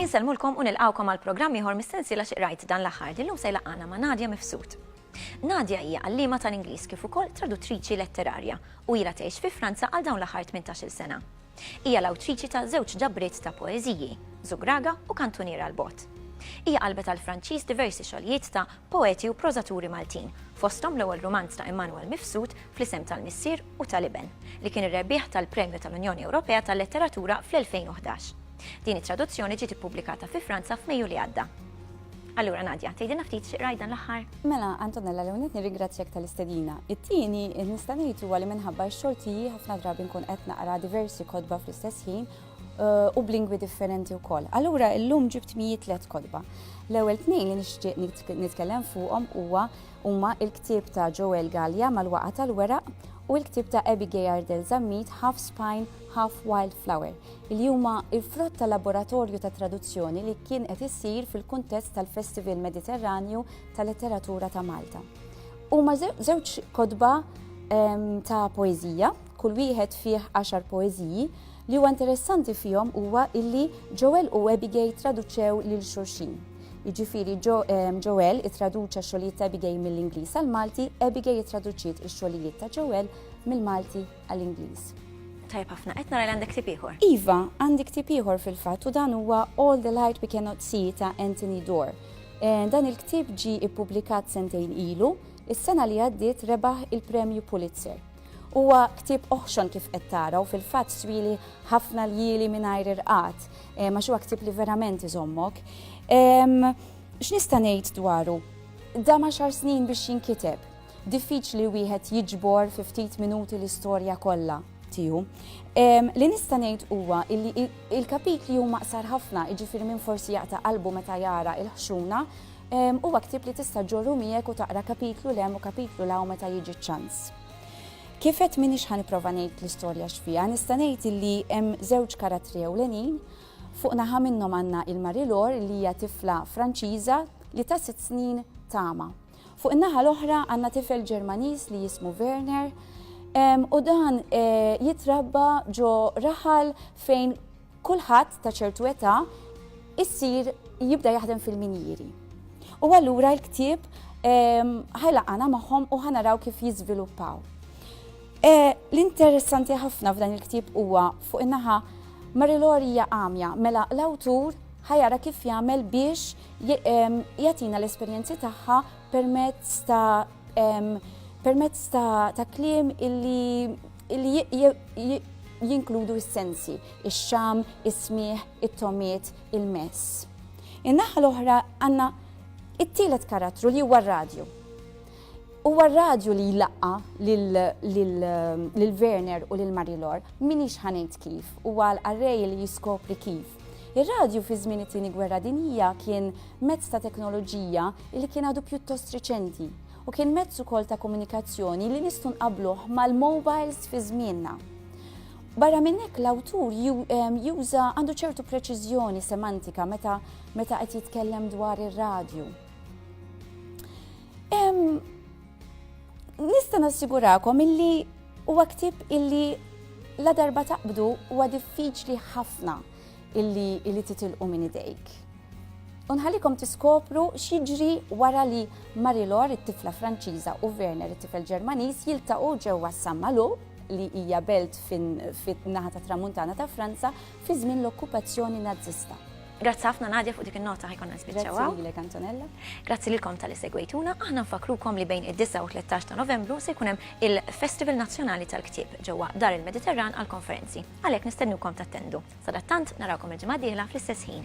Insellmulkom u nilqawkom għal programm ieħor mis-sensiela xi qrajt dan l-aħħar li llum se jlaqgħana ma' Nadja Mifsud. Nadja hija għalliema tal-Ingliż kif ukoll traduttriċi letterarja u ilha tgħix fi Franza għal dawn l-aħħar 18-il sena. Hija l-awtriċi ta' żewġ ġabriet ta' poeżiji, Zugraga u Kantunier għall-Bogħod. Hija qalbet għall-Franċiż diversi xogħlijiet ta' poeti u prożaturi Maltin, fosthom l-ewwel rumanz ta' Immanuel Mifsud Fl-isem tal-Missier u tal-Iben, li kien ir-rebbieħ tal-Premju tal-Unjoni Ewropea tal-Letteratura fl-2011. Din it-traduzzjoni ġiet ippubblikata fi Franza f'Mejju li għadda. Allura Nadja, tgħidilna ftit xi qrajt dan l-aħħar? Mela, Antonella l nett nirringrazzjak tal-istedina. It-tieni, nista' ngħid huwa li minħabba x-xogħol tiegħi ħafna drabi nkun qed naqra diversi kodba fl-istess ħin eh, u b'lingwi differenti wkoll. Allura illum ġibt mijiet tliet kodba. L-ewwel tnejn li nixtieq nitkellem fuqhom huwa huma il-ktieb ta' Joel Gallia mal-waqa tal-weraq u l-ktieb ta' Abigail Ardel Zammit Half Spine, Half Wildflower li huma l-frott ta' laboratorju ta' traduzzjoni li kien qed isir fil-kuntest tal-Festival Mediterranju ta' Letteratura ta' Malta. Huma żewġ kotba ehm, ta' poeżija, kull wieħed fih għaxar poeżiji, li huwa interessanti fihom huwa illi Joel u Abigail traduċew lil xulxin. Jiġifieri ehm, Joel ittraduċa xogħlijiet ta' Abigail mill-Ingliż għal Malti, Abigail ittraduċiet ix-xogħlijiet ta' Joel mill-Malti għall-Ingliż. Tajb ħafna, qed nara li għandek ktieb ieħor. Iva, għandi ktieb ieħor fil-fatt u dan huwa All the Light We Cannot See ta' Anthony Dorr. Eh, dan il-ktieb ġi ippubblikat sentejn ilu, is-sena li għaddiet rebaħ il-Premju Pulitzer. Huwa ktieb oħxon kif qed tara u fil-fatt swili ħafna l-jili mingħajr irqat, eh, ma huwa ktieb li verament iżommok. X'nista' ngħid dwaru? Da ma xar snin biex jinkiteb. Diffiċli wieħed jiġbor fi ftit minuti l-istorja kollha tiegħu. Li nista' ngħid huwa li il-kapitli huma qsar ħafna, jiġifieri minn forsi jaqta' qalbu meta jara il-ħxuna, huwa ktieb li tista' ġorru miegħek u taqra kapitlu lem u kapitlu law meta jiġi ċans. Kifet min ix ħaniprofa ngħid l-istorja x'fiha, nista' ngħid li hemm żewġ karattri ewlenin fuq naħa minnhom għandna il-Marilor li hija tifla Franċiża li ta' sitt snin tama. Fuq in-naħa l-oħra għandna tifel Ġermaniż li jismu Werner u dan jitrabba ġo raħal fejn kulħadd ta' ċertu età issir jibda jaħdem fil-minjieri. U allura l-ktieb ehm, ħajlaqana magħhom u ħanaraw kif jiżviluppaw. E, l-interessanti ħafna f'dan il-ktieb huwa fuq in-naħa Marilorija għamja mela l-awtur ħajara kif jagħmel biex jagħtina l-esperjenzi tagħha permezz ta' permezz ta' kliem illi jinkludu s-sensi, ix-xam, is-smieħ, it-tomiet, il-mess. In-naħa l-oħra għandna it-tielet karattru li huwa r-radju. Huwa r-radju li jlaqqa lil Werner u lil Marilor minix ħanejt kif, huwa l-qarrej li jiskopri kif. Ir-radju fi żmien it-Tieni Gwerra Dinjija kien mezz ta' teknoloġija li kien għadu pjuttost riċenti u kien mezz ukoll ta' komunikazzjoni li nistgħu nqabbluh mal-mobiles fi żmienna. Barra minn hekk l-awtur juża għandu ċertu preċiżjoni semantika meta meta qed jitkellem dwar ir-radju. Nista' nassigurakom illi huwa ktieb illi la darba taqbdu huwa diffiċli ħafna illi illi titilqu minn idejk. Unħalikom tiskopru x'jiġri wara li Marilor, it-tifla Franċiża u Werner, it-tifel Ġermaniż, jiltaqgħu ġewwa Sammalu li hija belt fin-naħa ta' tramuntana ta' Franza fi żmien l-okkupazzjoni Nazzista. Grazzi ħafna Nadja fuq dik in-nota ħajkonna nispiċċaw. Grazzi lilek Antonella. Grazzi lilkom tal segwejtuna, aħna nfakrukom li bejn id-9 u 13 ta' Novembru se jkun hemm il-Festival Nazzjonali tal-Ktieb ġewwa Dar il-Mediterran għal konferenzi. Għalhekk nistennukom tattendu. Sadattant narawkom il-ġimgħa dieħla fl-istess ħin.